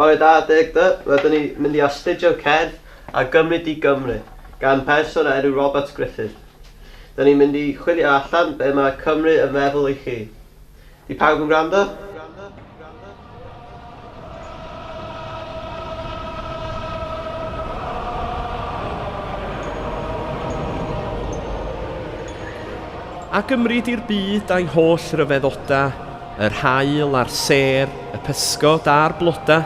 Bore da Dug Dy, rydyn ni mynd i astudio cerdd a gymryd i Gymru gan berson o enw Robert Griffith. Dyn ni'n mynd i chwilio allan be mae Cymru yn feddwl i chi. Di pawb yn gwrando? A gymryd i'r byd a'i holl ryfeddodau. Yr haul a'r sêr, y pysgod a'r blodau,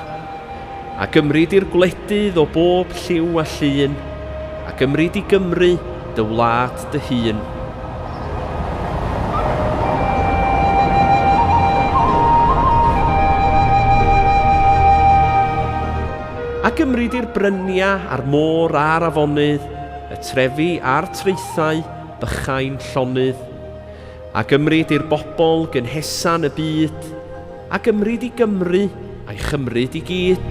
a gymryd i'r gwledydd o bob lliw a llun, a gymryd i Gymru, dy wlad dy hun. A gymryd i'r bryniau a'r môr a'r afonydd, y trefi a'r traethau bychain llonydd, A gymryd i'r bobl gynhesa'n y byd, a gymryd i Gymru a'i chymryd i gyd.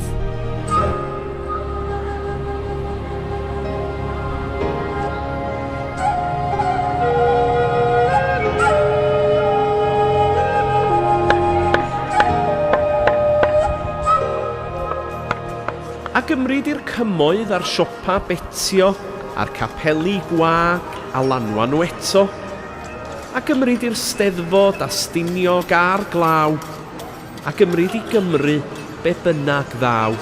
a gymryd i'r cymoedd a'r siopa betio a'r capeli gwag a lanwa nhw eto, a gymryd i'r Steddfod a Stiniog a'r glaw, a gymryd i Gymru be bynnag ddaw.